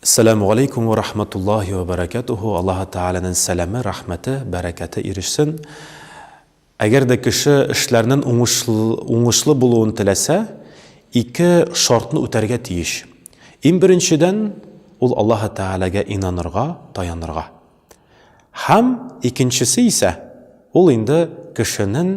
Әссәләмү галәйкүм вә рахматуллаһи вә бәрәкәтүһү, Аллаһы Тәгаләнен сәләме, рәхмәте, бәрәкәте ирешсен. Әгәр дә кеше эшләрнен уңышлы булуын теләсә, ике шартны үтәргә тиеш. Ин беренчедән, ул Аллаһы Тәгаләгә инанырга, таянырга. Һәм икенчесе исә, ул инде кешенен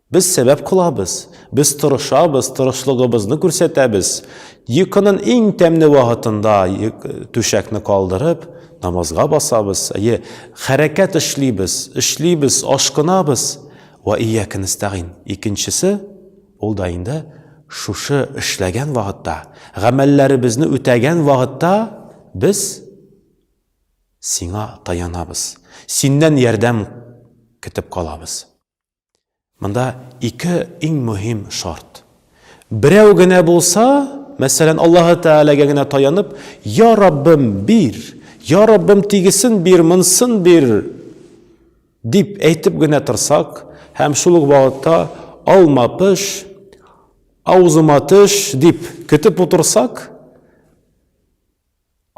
Без сәбәп кылабыз, без тырышабыз, тырышлыгыбызны күрсәтәбез. Йокының иң тәмле вакытында түшәкне калдырып, намазга басабыз, әйе, хәрәкәт эшлибез, эшлибез, ашкынабыз. Вә ияка нәстәгыйн. Икенчесе, ул да инде шушы эшләгән вакытта, гамәлләребезне үтәгән вакытта без сиңа таянабыз, синнән ярдәм көтеп калабыз. Монда ике иң мөһим шарт. Берәү генә булса, мәсәлән, Аллаһы Тәгаләгә генә таянып, Я Раббым, бир! Я Раббым, тигесен бир, монсын бир! дип әйтеп генә торсак, һәм шул ук вакытта алма пыш, аузыма төш дип көтеп утырсак,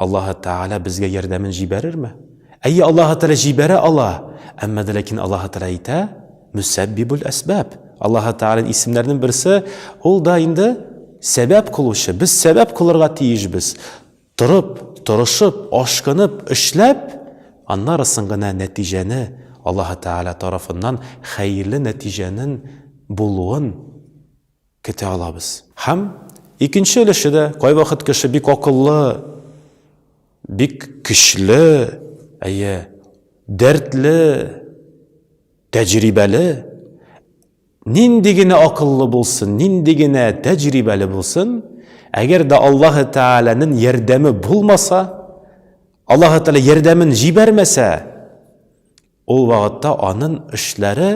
Аллаһы Тәгалә безгә ярдәмен җибәрерме? Әйе, Аллаһы Тәгалә җибәрә ала, әмма дә ләкин Аллаһы Тәгалә әйтә, Мөсәббибул әсбаб. Аллаһы Тәгаләнең исемнәренең берсе, ул да инде сәбәп кылучы. Без сәбәп кылырга тиешбез. Торып, торышып, ашкынып, эшләп, аннары соң гына нәтиҗәне, Аллаһы Тәгалә тарафыннан хәерле нәтиҗәнең булуын көтә алабыз. Һәм икенче өлеше дә, кайвакыт кеше бик акыллы, бик көчле, әйе, дәртле, тәҗрибәле, нинди генә акыллы булсын, нинди генә тәҗрибәле булсын, әгәр дә Аллаһы Тәгаләнең ярдәме булмаса, Аллаһы Тәгалә ярдәмен җибәрмәсә, Ул вакытта анын эшләре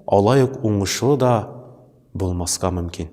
алай ук уңышлы да булмаска мөмкин.